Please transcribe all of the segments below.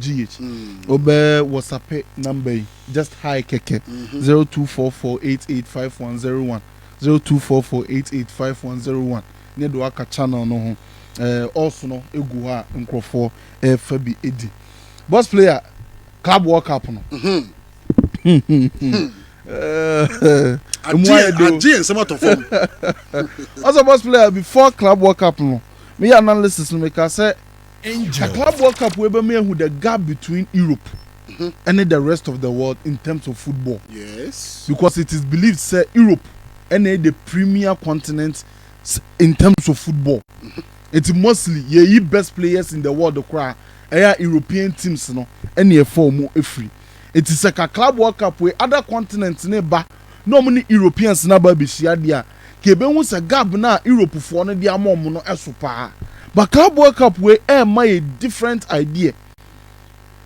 GH. Obɛ WhatsAppe number yi just hi kɛkɛ mm-hmm. zero two four four eight eight five one zero one zero two four four eight eight five one zero one ne do aka channel no ho ɛɛ ɔso no egu hɔ a nkorɔfoɔ ɛɛfa bi edi boss player club world cup no. Mm-hmm. emu ayɛ do agye nsɛm atɔ fam. ɔsɛ boss player before club world cup no mi yɛ analysis no mi ka sɛ. Angel. Club World Cup wei bɛma yɛahu the gap between Europe ne the rest of the world in terms of football because it is believed sɛ Europe na ɛyɛ the premier continent in terms of football nti mostly yɛyi best players in the world koraa ɛyɛ a European teams no na ɛfa wɔn firi nti sɛ ka Club World Cup wei other continents no ba na wɔn ne Europeans no aba abɛhyia deɛ a nka yɛbɛhu sɛ gab no a Europefoɔ no de ama wɔn no so paa. But cowboy cap wei ɛrema yɛ different idea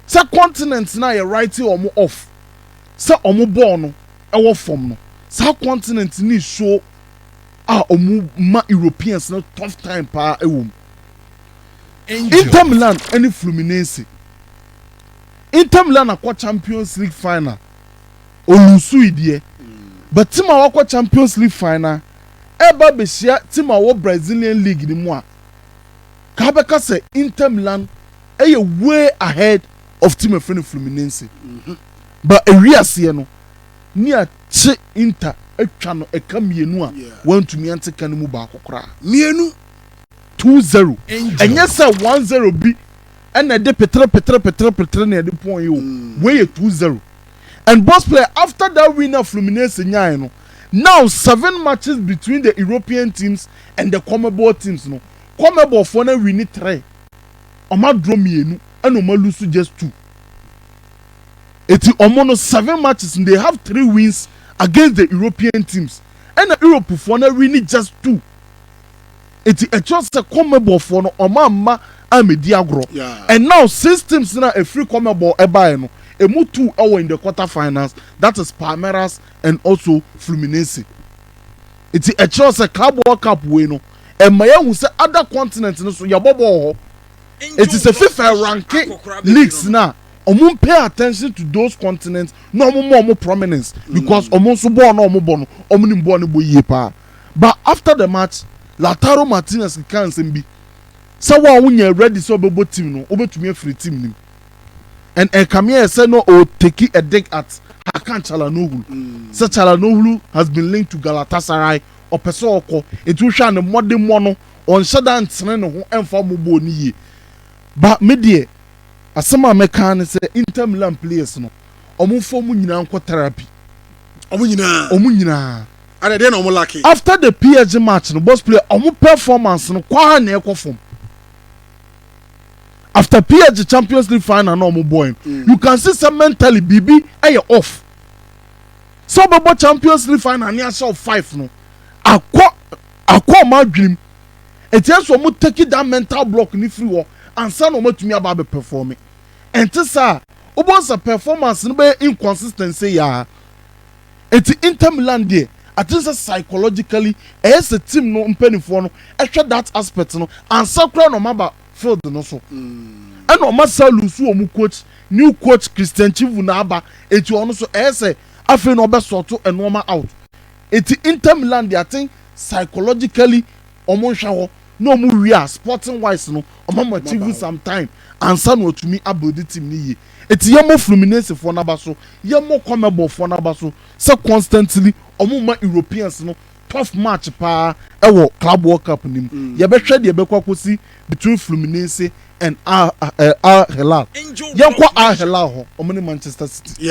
sɛ continent no a yɛ write wɔn off sɛ wɔn bɔɔ no wɔ fam no, saa continent no nsuo a wɔma Europeans no tough time paa wɔ mu. Inter Milan ne Fluminense. Inter Milan akɔ Champions League final. Ɔluusui deɛ, but team a wakɔ Champions League final ɛreba abɛhyia team a wɔwɔ Brazilian league no mu a, nka wobɛka sɛ Inter Milan yɛ way ahead of team a yɛfrɛ no Fluminense. But ɛwie aseɛ no, nea kye Inter atwa no ɛka mmienu a wɔantumi ante ka no mu baako koraa. Mmienu. Two zero. Ɛnyɛ sɛ one zero bi na ɛde petere petere petere petere na ɛde pɔn yi o, wei yɛ two zero. and both player after that win a Fluminense nyae no now seven matches between the European teams and the Comebol teams no Comebol foɔ no awini three ɔmo adraw mmienu ɛna ɔmo alusu just two eti ɔmo no seven matches no they have three wins against the European teams ɛna Europe foɔ no awini just two. Enti ɛkyerɛ sɛ Conmebol foɔ no wɔn amma ammɛdi agorɔ. And now six teams no a ɛfiri Conmebol ɛbaeɛ no, ɛmu two ɛwɔ in the quarter finals, that is Palmeiras and also Fluminense. Enti ɛkyerɛ sɛ Club World Cup wei no, ɛma yɛahu sɛ other continent no so yɛbɔ bɔɔl hɔ. Enti sɛ fifa ɛranke leagues no a, wɔn pay attention to those continents na wɔn ma wɔn prominence because wɔn nso bɔɔl no a wɔbɔ no, wɔnim bɔɔl no bɔ yie paa. But after the match, Lautaro Martinez kekaa nsɛm bi sɛ wo a wonyɛ ready sɛ wobɛbɔ team no, wobɛtumi afiri team no mu. And ɛkame ayɛ sɛ na ɔretake a dig at Hakan Calhanoglu sɛ Calhanoglu has been linked to Galatasaray, ɔpɛ sɛ ɔkɔ. Nti wohwɛ a ne mmɔdemmɔ no, ɔnhyɛ da ntene ne ho mfa mmɔ bɔɔl no yie. But me deɛ, asɛm a mɛka ne sɛ Inter Milan players no, wɔmfa wɔn nyinaa nkɔ therapy. Wɔn nyinaa? Wɔn nyinaa. Adɛ deɛ na ɔmo lacking? After the PSG match no boss player ɔmo performance no kwaa na ɛkɔ fam after PSG champions league final na ɔmo bɔɛ no you can see sɛ mentally biribi ɛyɛ off sɛ ɔbɛbɔ champions league final ne ahyɛ ɔ five no akɔ akɔ ɔmo adwenem ɛti ɛsɛ ɔmo take that mental block ne firi hɔ ansa na ɔmo atumi aba abɛ perform ɛnte saa wobɛhu sɛ performance no bɛyɛ inconsistency yaa. Enti Inter Milan deɛ I think sɛ psychologically ɛyɛ sɛ team no mpaninfoɔ no hwɛ that aspect no ansa koraa na wɔn aba field no so. Ɛna wɔn asa loose wɔn coach, new coach Christian Chivu na aba enti ɔno nso ɛyɛ sɛ afei na ɔbɛ sort nnoɔma out. Enti Inter Milan deɛ I think psychologically ɔmo nhwɛ hɔ na ɔmo wie a sporting wise no ɔmo ama TV some time ansa na watumi a build team no yie. Nti yɛmmɔ Fluminense foɔ no aba so, yɛmmɔ Conmebol foɔ no aba so sɛ constantly ɔmo mma Europeans no tough match paa ɛwɔ Club World Cup no mu. Yɛbɛhwɛ deɛ ɛbɛkɔ akɔsi between Fluminense and Al Hilal. Yɛnkɔ Al Hilal hɔ, ɔmo ne Manchester City.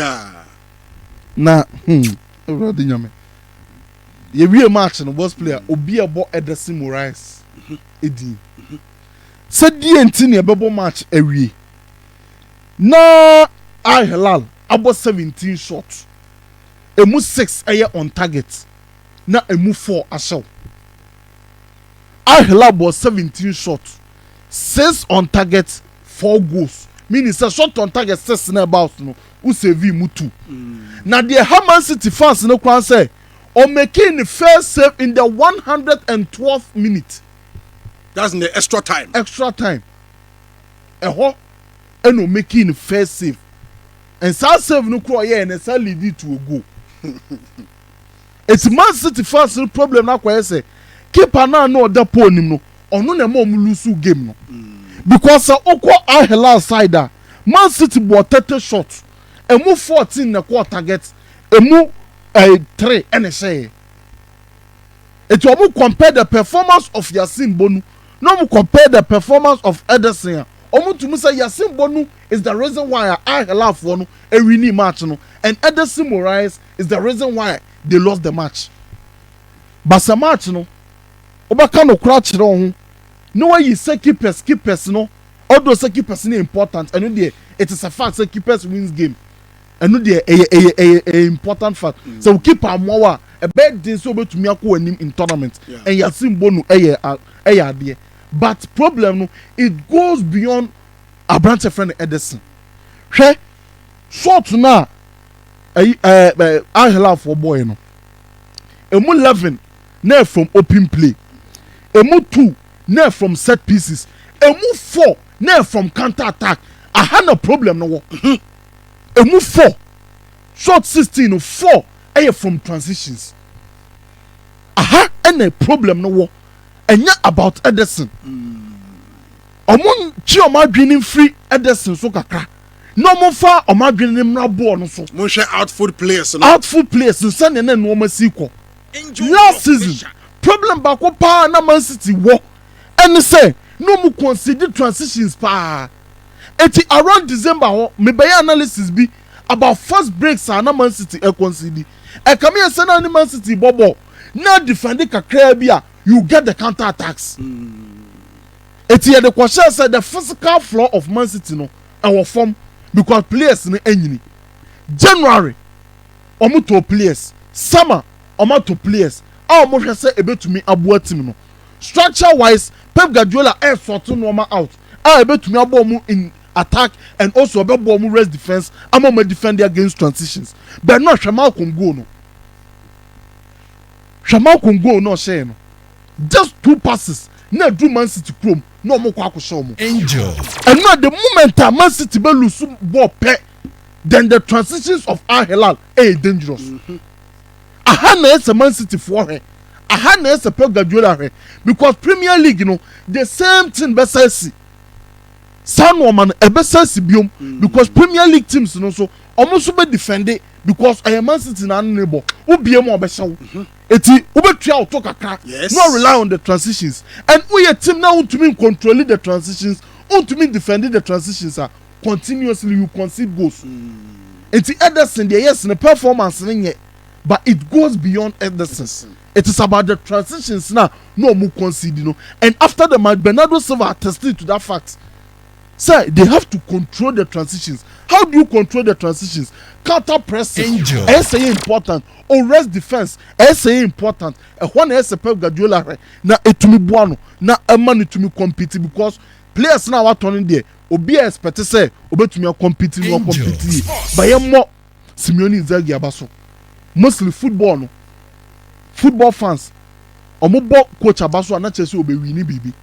Na hmm Awurade Nyame. Yɛwie match no worst player obi a ɛbɔ Ederson Morais din sɛ deɛ nti na yɛbɛbɔ match awie na Al Hilal abɔ seventeen shot ɛmu six ɛyɛ on target na ɛmu four ahyɛw Al Hilal bɔɔ seventeen shot six on target four goals meaning sɛ shot on target six na ɛba out no wo savee mu tu. Na deɛ ɛha Man City fans no koraa ne sɛ ɔmakee ne first save in the one hundred and twelfth minute. That's in the extra time. Extra time. Ɛhɔ ɛna ɔmakee ne first save. And saa save no koraa ɔyɛeɛ no ɛsan leadi to a goal. Esi Man City fans no problem no akɔyɛ sɛ keeper no a na ɔda pole nim no, ɔno na ɛma wɔn loose game no. Because sɛ wokɔ Al Hilal side a, Man City bɔɔ thirty shots, emu fourteen na ɛkɔɔ target, emu ɛɛ three na ɛhyɛeɛ. Enti wɔn compare the performance of Yassine Bonu na wɔn compare the performance of Ederson a, wɔn tumi sɛ Yassine Bonu is the reason why a Al Hilalfoɔ no ɛwinii match no and Ederson Moraes is the reason why they lost the match. But sɛ match no wobɛka nokorɛ akyerɛ wo ho na wayi sɛ keepers keepers no although sɛ keepers no important ɛno deɛ it is a fact sɛ keepers wins game ɛno deɛ ɛyɛ ɛyɛ ɛyɛ ɛyɛ important fact mm. sɛ wo keeper amoa wo a ɛbɛyɛ den sɛ wobɛtumi akɔ w'anim in tournament yeah. and yɛase mbɔ no ɛyɛ ɛyɛ adeɛ but problem no it goes beyond aberanteɛ fɛ no ɛde se hwɛ short no a ɛyi ɛɛ ɛɛ ahelafoɔ bɔɔɛ no ɛmu eleven na ɛyɛ from open play ɛmu two na ɛyɛ from set pieces ɛmu four na ɛyɛ from counter attack aha na problem no wɔ mhm. ɛmu four short sixteen no four ɛyɛ from transitions aha ɛna problem no wɔ ɛnyɛ about Ederson wɔn mm. twe wɔn adwene mfiri Ederson so kakra. na wɔn fa wɔn adwene ne mmra boɔ no so. Monhwɛ outfood players no. Outfood players no sɛdeɛ na nnoɔma si kɔ last season problem baako paa na man city wɔ ɛne sɛ na wɔn concede transitions paa eti around December hɔ me bɛyɛ analysis bi about fast breaks a na man city ɛconcede ɛkame yɛ sɛ na ne man city bɔ bɔɔl na defend kakraa bi a you get the counter attacks. Mm. Enti yɛde kɔhyɛɛ sɛ the physical floor of Man City no ɛwɔ fam because players no anyini. January wɔtɔɔ players, summer wɔatɔ players a wɔhwɛ sɛ ɛbɛtumi aboa team no. Structure wise, Pep Guardiola resort nnoɔma out a ɛbɛtumi aboa wɔn in attack and also ɛbɛboa wɔn rest defence ama wɔn adefɛnde against transitions. Bernard hwɛ Malcom goal no. Hwɛ Malcom goal no a ɔhyɛɛ no. Just two passes na aduru Man City kurom na wɔkɔ akɔhyɛ wɔn. Angel. Ɛno a the moment a Man City bɛ lose bɔɔl pɛ then the transitions of Al Hilal yɛ dangerous. Aha na ɛyɛ sɛ Man City foɔ hwɛ, aha na ɛyɛ sɛ Pep Guardiola hwɛ because Premier League no the same thing bɛsa asi. Saa nnoɔma no ɛbɛsa asi biom because Premier League teams no nso wɔn nso bɛ defend because ɛyɛ Man City na ano na ɛbɔ, wo bie mu a ɔbɛhyɛ wo. Enti wobɛtua wo to kakra na wa rely on the transitions and wo yɛ team na wo ntumi ncontroli the transitions, wo ntumi ndefendi the transitions a, continuously you concede goals. Enti Ederson deɛ yes ne performance no nyɛ but it goes beyond Ederson. It is about the transitions no a na ɔmo concede no and after the match Bernardo Silva attested to that fact. sɛ they have to control the transitions how do you control the transitions counter pressing Angel. ɛyɛ sɛ yɛ important ores defence ɛyɛ sɛ yɛ important ɛhɔ na ɛyɛ sɛ pep guardiola hwɛ na ɛtumi boa no na ɛma no tumi compete because players na watɔ no deɛ obi a expect sɛ obɛtumi akɔmpete no akɔmpete yie bayɛ mmɔ Simeone Inzaghi aba so. Mostly football no, football fans, wɔn bɔ coach aba so a na kyerɛ sɛ ɔbɛ wini biribi.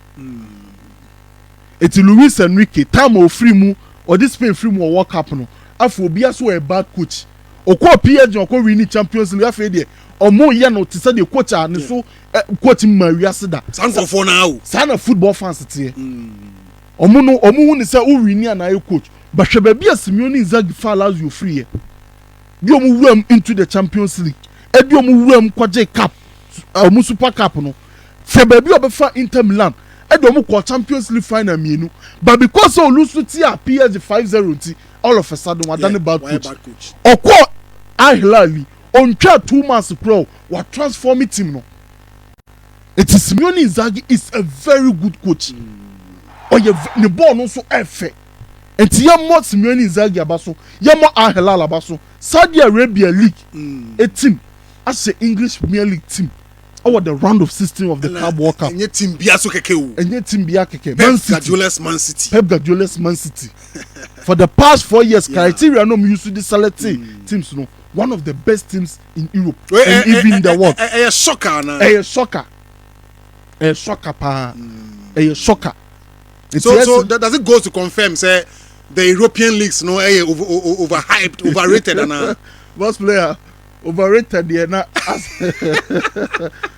Eti Luis Enrique, time a ɔfiri mu, ɔde Spain firi mu wɔ World Cup no, afei obiara sɛ ɔyɛ bad coach. Ɔkɔɔ PSG na ɔkɔ wini Champions League, afei deɛ wɔn yɛ no te sɛ deɛ coach a ne so coach mmaa wiase da. Saa nkurɔfoɔ no ara o. Saa na football fans teɛ. Mm. Ɔmo no, ɔmo hu no sɛ wo wini anaa yɛ coach. But hwɛ baabi a Simeone ne Inzaghi faa Lazio firiiɛ, de ɔmo wuram into the Champions League, ɛde ɔmo wuram kɔgyee cup, ɔmo Super Cup no. Hwɛ baabi a ɔbɛfaa Inter Milan, ɛde ɔmo kɔɔ Champions League final mmienu. But because sɛ ɔlose no tiaa PSG five zero nti, all of a sudden wadane bad coach. Ɔkɔɔ Al Hilal yi, ɔntwaa two months koraa o, watransforme team no. Enti Simone Inzaghi is a very good coach. Ɔyɛ ne bɔɔl no nso ɛfɛ. Enti yɛmmɔ Simone Inzaghi aba so, yɛmmɔ Al Hilal aba so. Saudi Arabia League mm. team ahyɛ English Premier League team ɛwɔ the round of sixteen of the Club World Cup. Ɛnyɛ team bia so kɛkɛ o. Ɛnyɛ team bia kɛkɛ. Man City. Pep Guardiola's Man City. Pep Guardiola's Man City. For the past four years, yeah. criteria no use to select mm. teams no. One of the best teams in europe eh, and eh, even eh, the world ɛyɛ soccer anaa ɛyɛ soccer ɛyɛ soccer paa ɛyɛ hmm. soccer so so does it go to confirm sɛ the european leagues no ɛyɛ over over hyped overrated anaa boss player overrated yɛ na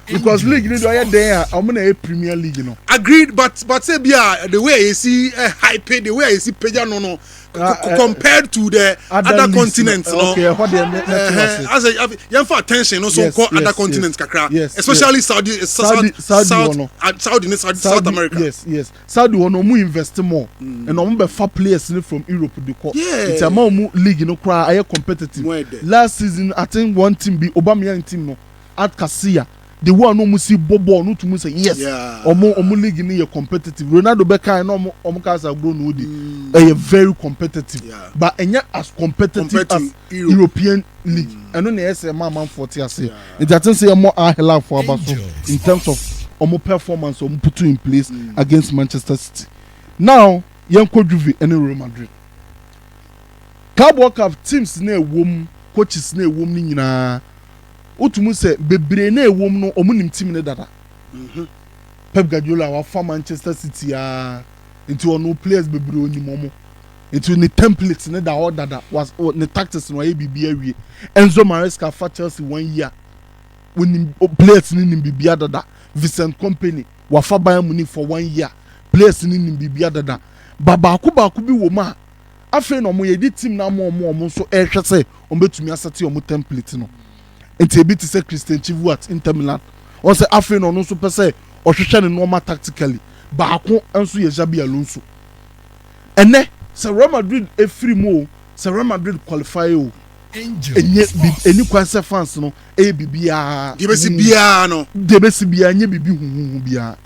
because league ni do ɔyɛ den a ɔmo na yɛ premier league no. agreed but but say bi a the way a yɛ si eh, hype the way a yɛ si pagya no no Ah, eh, compared to the other, other continents no okay, uh, uh, as a yɛmfa attention no so yes, nkɔ yes, other continents yes, kakra yes, especially yes. saudi uh, saudi saudi south, no uh, saudi ne saudi, saudi south america yes yes saudi hɔ no ɔmo invest more mm. and ɔmo bɛfa players ni from europe de kɔ yeah. nti ama ɔmo league no koraa ayɛ competitive last season i think one team bi aubameyang team no Art Garcia de wɔn a na wɔn si bɔ bɔɔl no tum sɛ yes wɔn wɔn league no yɛ competitive Ronaldo bɛkae na wɔn wɔn kaa sɛ agorɔ na ɔdi ɛyɛ very competitive but ɛnyɛ as competitive as European league ɛno na ɛyɛ sɛ ɛma amanfoɔ te ase nti I think sɛ yɛmmɔ Al Hilal foɔ aba so in terms of wɔn performance a wɔn putu in place against Manchester City now yɛnkɔ Juve ɛne Real Madrid Carabao Cup teams no a ɛwɔ mu coaches no a ɛwɔ mu no nyinaa. wotu mu sɛ bebree no a ɛwɔ mu no, wɔnim team no dada. Pep Guardiola a wafa Manchester City ara nti ɔno players bebree onim wɔn. Nti ne template no da hɔ dada, ne tactics no wayɛ biribi awie. Enzo Maresca fa Chelsea one year, wonim players no nim biribi dada. Vincent Kompany wafa Bayern Munich for one year, players no nim biribi dada. Ba baako baako bi wɔ mu a Afei na wɔyɛdi team no ama wɔn a wɔn nso rehwɛ sɛ wɔbɛtumi asɛte wɔn template no. Enti ebi te sɛ Christian Chivuart, Inter Milan. Wɔn sɛ afei na ɔno nso pɛ sɛ ɔhwehwɛ ne nneɛma tactically. Baako nso yɛ Xabi Alonso. Ɛnnɛ, sɛ Real Madrid firi mu o, sɛ Real Madrid qualify o, ɛnyɛ biribi, ɛnni kwan sɛ fans no yɛ biribiara. Deɛ ɛbɛsi biara no. Deɛ ɛbɛsi biara, ɛnyɛ biribi huhuhu biara.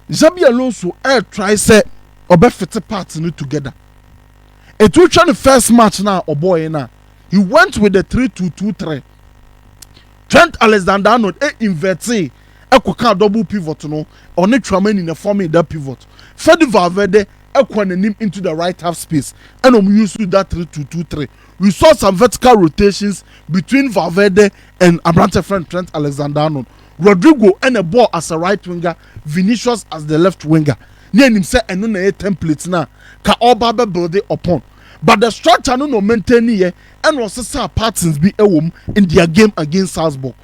Xabi Alonso ɛɛtrae sɛ ɔbɛfete parts no together. Enti wohwɛ ne first match no a ɔbɔɔeɛ no a, he went with the three two two three. Trent Alexander-Arnold ɛ invertee ɛkɔkaa double pivot no, ɔne Tchouameni na ɛformee that pivot. Fede Valverde ɛkɔɔ n'anim into the right half space ɛna wɔn used that three two two three. We saw some vertical rotations between Valverde and aberanteɛ a yɛfrɛ no Trent Alexander-Arnold. Rodrygo ɛna ɛbɔɔ as a right winger Vinicius as the left winger na yɛnim sɛ ɛno na ɛyɛ template no a ka ɔreba abɛ builde upon but the structure no na ɔmaintaineeɛ ɛna ɔsesaa patterns bi wɔ mu in their game against Salzburg.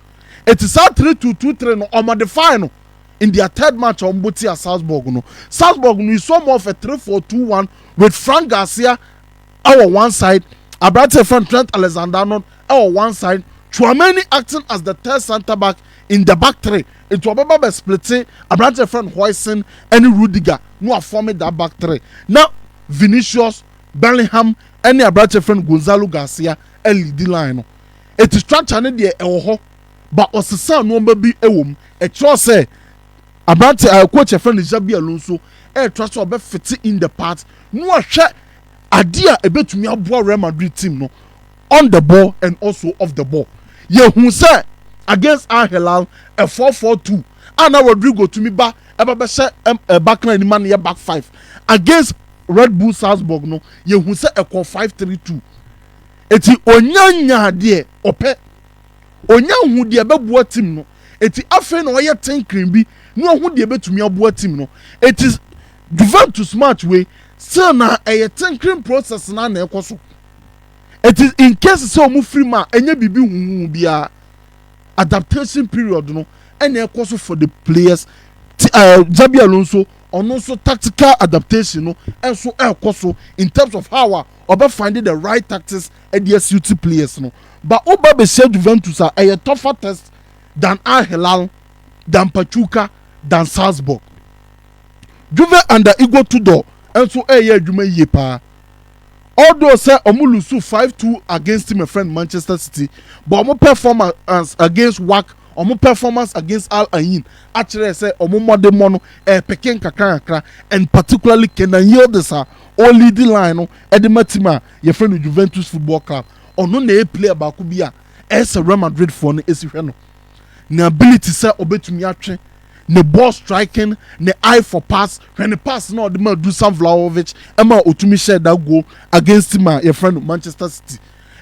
Enti saa three two two three no ɔmodifae no in their third match a wɔbɔ tia Salzburg no. Salzburg no we saw more of a three four two one with Frank Garcia wɔ one side, aberante a yɛfrɛ no Trent Alexander-Arnold wɔ one side, Tchouameni acting as the third centre back in the back three. Enti ɔbɛba abɛ splite aberante a yɛfrɛ no Huijsen ne Rudiger na wɔafɔme that back three na Vinicius, Bellingham ne aberante a yɛfrɛ no Gonzalo Garcia aleadi line no. Enti structure no deɛ ɛwɔ hɔ but wɔsesaa nnoɔma bi wɔ mu. Ɛkyerɛ sɛ aberante a coach a yɛfrɛ no Xabi Alonso retra sɛ ɔbɛ fite in the part na wahwɛ adeɛ a ɛbɛtumi aboa Real Madrid team no. on the ball and also off the ball. Yɛhu sɛ against Al Hilal, a four four two a na Rodrygo tumi ba ɛba bɛhyɛ ɛm back line ma no yɛ back five. Against Red Bull Salzburg no, yɛhu sɛ ɛkɔɔ five three two. Eti onya nyaa deɛ ɔpɛ. Onya hu deɛ ɛbɛboa team no. Eti afei na ɔyɛ tinkering bi na wahu deɛ ɛbɛtumi aboa team no. Eti Juventus match wei, still na ɛyɛ tinkering process no ara na ɛrekɔ so. It is in case sɛ wɔn firi mu a ɛnyɛ biribi huhu biara adaptation period no ɛna ɛkɔ so for the players ti ɛɛ Xabi Alonso ɔno nso tactical adaptation no ɛnso ɛkɔ so in terms of how a ɔbɛ find the right tactics ɛde asuit players no ba ɔba bɛhyɛ Juventus a ɛyɛ tougher test than Al Hilal than Pachuca than Salzburg Juve under Igor Tudor ɛnso ɛyɛ adwuma yie paa. Although sɛ ɔmo lusu five two against my friend Manchester City but ɔmo performance against Wak ɔmo performance against Al Ain akyerɛ sɛ ɔmo mmɔdemmɔ no ɛrepeke nkakrankakra and particularly Kenan Yildiz a ɔreleadi line no de ma team a yɛfrɛ no Juventus Football Club. Ɔno na ɛyɛ player baako bi a ɛyɛ sɛ Real Madridfoɔ no si hwɛ no n'ability sɛ ɔbɛtumi atwe ne ball striking, ne eye for pass, hwɛ ne pass no a ɔde maa Dusan Vlahovic ma otumi hyɛɛ that goal against team a yɛfrɛ no Manchester City.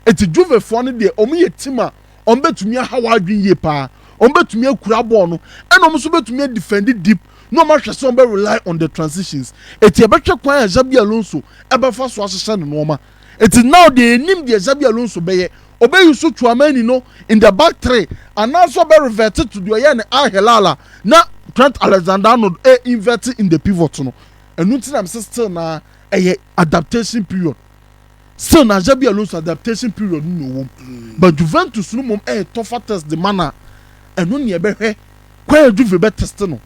Enti Juvefoɔ no deɛ, wɔn yɛ team a wɔn bɛtumi aha w'adwene yie paa. Wɔn bɛtumi akura ball no, ɛna wɔn nso bɛtumi adefend deep, na wɔn ahwɛ sɛ wɔn bɛ rely on the transitions. Enti yɛbɛhwɛ kwan a Xabi Alonso bɛfa so ahyehyɛ ne nnoɔma. Enti now deɛ yɛnim deɛ Xabi Alonso bɛyɛ, ɔbɛyusu Tchouameni no in the back three anaasɛ ɔbɛrevɛte to deɛ ɔyɛɛ no Al Hilal a na Trent Alexander-Arnold reinvɛte in the pivot no. Ɛno nti na mese still no ara ɛyɛ adaptation period. Still no ara Xabi Alonso adaptation period no na ɔwɔ mu. But Juventus no mmom ɛyɛ tougher test de ma no a, ɛno na yɛbɛhwɛ kwan a Juve bɛteste no.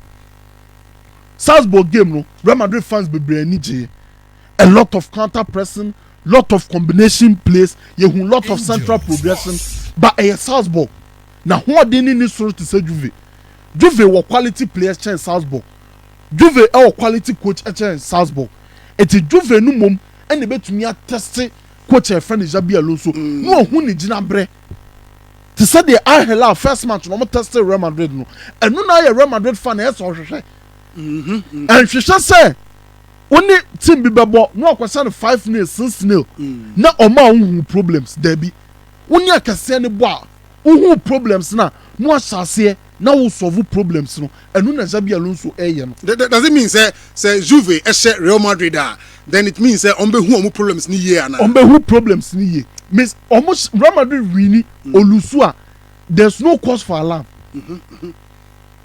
Salzburg game no, Real Madrid fans bebree ani gyeeɛ. a lot of counter pressing lot of combination plays yɛhu lot of central progression ba ɛyɛ Salzburg na hoɔden ne ni soro te sɛ Juve Juve wɔ quality players kyɛn Salzburg Juve ɛwɔ quality coach kyɛn Salzburg ɛti Juve no mmom ɛna ɛbɛtumi atɛste coach a yɛfrɛ no Xabi Alonso mm. na ɔhu ne gyinaberɛ te sɛ deɛ Al Hilal first match na wɔn tɛste Real Madrid no ɛno na ayɛ Real Madrid fan ɛyɛ sɛ ɔhwehwɛ ɛnhwehwɛ sɛ Wo ne team bi bɛbɔ na wakɔhyɛ no five nil, six nil na ɔmaa wo huu problems? Daabi. Wo ne akɛseɛ no bɔ a, wo huu problems no a, na wahyɛ aseɛ na wo solve problems no. Ɛno na Xabi Alonso reyɛ no. Does it mean sɛ sɛ Juve hyɛ Real Madrid a, then it means sɛ wɔn bɛhu wɔn problems no yie anaa? Wɔn bɛhu problems no yie. Means wɔn Real Madrid winni, ɔlusu a, there's no cause for alarm.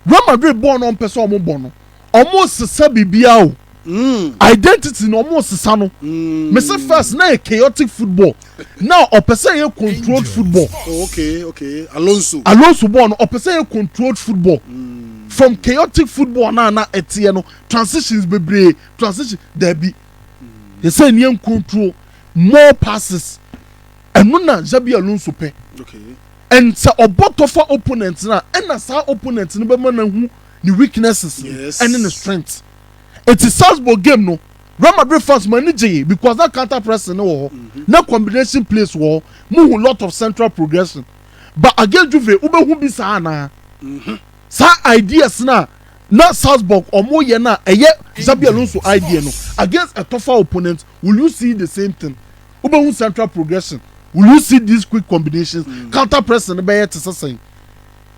Real Madrid bɔɔl no ɔmpɛ sɛ ɔmo bɔ no ɔmo sesa biribiara o mm. identity no ɔmo sesa no mm. me se first na yɛ chaotic football na ɔpɛ sɛ yɛ controlled football oh, okay, okay. Alonso Alonso bɔɔl no ɔpɛ sɛ yɛ controlled football mm. from chaotic football na na ɛteɛ no transitions bebree transition daabi mm. yɛ sɛ nneɛm control more passes ɛno na Xabi Alonso pɛ. Okay. And sɛ ɔbɔ tɔ fa opponent no a, ɛna saa opponent no bɛma no ahu ne weaknesses no ɛne ne strengths. Enti Salzburg game no, Real Madrid fans mo ani gyee because na counter pressing no wɔ hɔ, na combination plays wɔ hɔ, mo hu lot of central progression. But against Juve, wo bɛ hu bi saa anaa? Saa ideas no a na Salzburg ɔmo yɛ no a ɛyɛ Xabi Alonso idea no against a tougher opponent, will you see the same thing wobɛhu central progression will you see these quick combinations mm. counter pressing no bɛyɛ te sɛ sɛn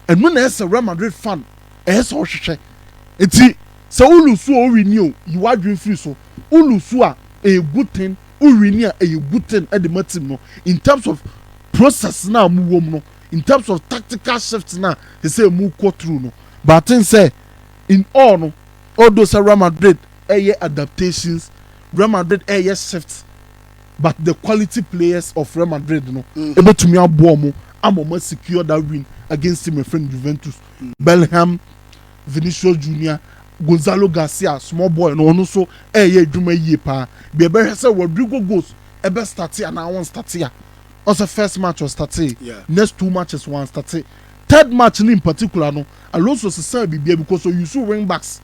ɛno na ɛsɛ Real Madrid fan ɛyɛ sɛ ɔhwehwɛ eti sɛ wolusu a owi ni o yi wadwin firi so wolusu a ɛyɛ good thing owi ni a ɛyɛ good thing ɛde ma team no in terms of process na mu wɔm no in terms of tactical shift na ɛsɛ mu kɔ through no but I think sɛ in all no although sɛ Real Madrid ɛyɛ adaptations Real Madrid ɛyɛ shift but the quality players of Real Madrid no ɛbɛtumi aboa ɔmo ama ɔmo asecure that win against team ɛfrɛ no Juventus Bellingham Vinicius Junior Gonzalo Garcia small boy no ɔno nso ɛyɛ adwuma yie paa bia ɛbɛhwɛ sɛ Rodrigo goes ɛbɛ starte anaa wɔn starte a ɔsɛ first match ɔstate next two matches wɔn starte third match no in particular no Alonso sesaa bibia because ɔuse wing backs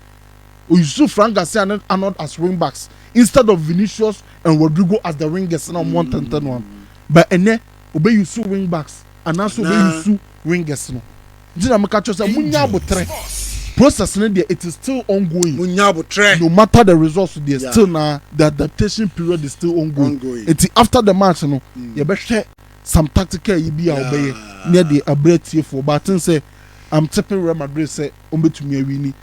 Oyisu Frank Garcia ne Arnold as wing backs instead of Vinicius and Rodrygo as the wingers na wɔn ntɛntɛ no ano. But ɛnɛ obeyisu wing backs anaasɛ obeyisu wingers no. Nti na meka kyerɛ sɛ munya abotrɛ. Process no deɛ it is still ongoing. Munya abotrɛ. No matter the results deɛ yeah. still na the adaptation period is still ongoing. ongoing. Nti after the match no mm. yɛbɛhwɛ some tactical yi bi a wɔbɛyɛ ne ɛde abrɛ atiefoɔ but I think sɛ I'm tipping Real Madrid sɛ wɔbɛtumi awini